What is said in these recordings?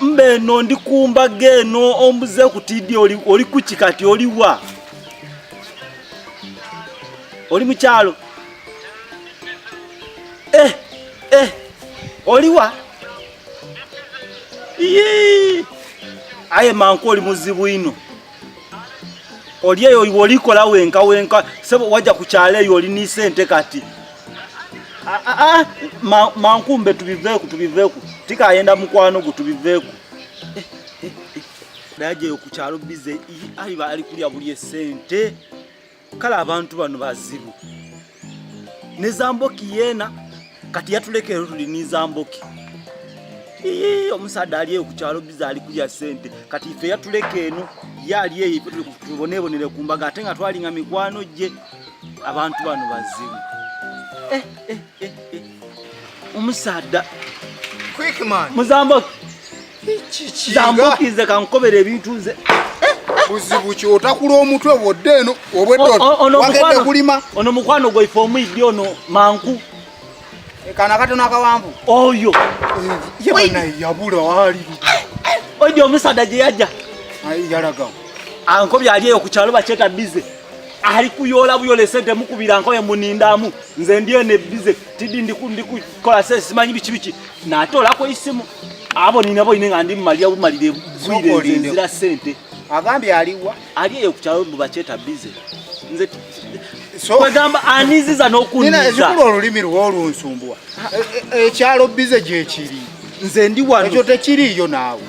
mba eno ndi ku mbaga eno ombuze ku tidi oli kuki kati oliwa oli mukyalo eh, eh, oliwa aye manku oli muzibu ino oli eyo olikola wenka wenka sebo wajja ku kyalo eyo oli ni sente kati ah, ah, ah, ma, mankumbe tubiveeku tubiveeku tikayenda mukwano gwo tubiveeku eh, eh, eh. dajeyo ku kyalo bize ayiba ali kulya buli esente kale abantu bano bazibu ne zamboki yena kati yatulekero tuli ni zamboki omusaadha ali eyo kukyalo biza ali kulya sente kati ife yatuleka eno ye ali eyo tubonebonere ku mbaga ate nga twalinga mikwano gye abantu bano bazibu eh, eh, eh, eh. omusaadha muzamboki zambukize kankobera ebintu nze buzibu ki otakula omutwe bwodde eno obwedwagedde kulima ono mukwano gwaife omuyiddi ono manku kana katono akawanvu oyo yabula wali oidi omusaada gye yajja yalaga ankobya ali eyo ku kyalo bakyeta bize ali kuyoola buyola esente mukubira nkoye munindaamu nze ndi eno ebize tidi ndikukola se simanyi biki biki natolako isimu abo ninabo ine nga ndi mumalira bumalire bwire nzira sente agambye aliwa ali eyo ku kyalo mubacheta bize nze kwegamba aniziza n'okunizazikulu olulimi lwo olunsumbuwa ekyalo e, e, bize gyekiri nze ndi wano ekyo tekiriiyo naawe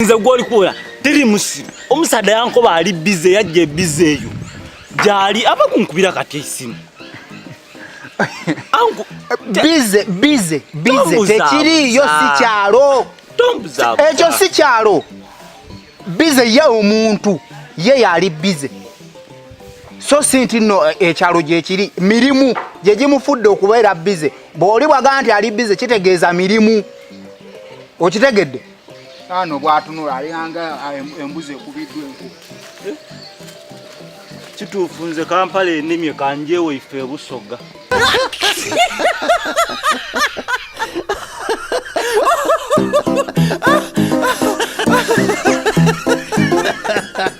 nze gwoli kuwera teri musiru omusaadde yankoba ali bize yajja ebize eyo gyali aba kunkubira kati esimu bize bize bize tekiriiyo si kyalo ekyo si kyalo bize ye omuntu ye yali bize so si nti no eh, ekyalo gyekiri mirimu gye gimufudde okubeera bize bw'oli bwagaa nti ali bize kitegeeza mirimu okitegedde Ano bwatunula alinganga ah, embuzi ekubiddwa enku. Eh? Kituufu nze Kampala enimye kanjewo ife ebusoga.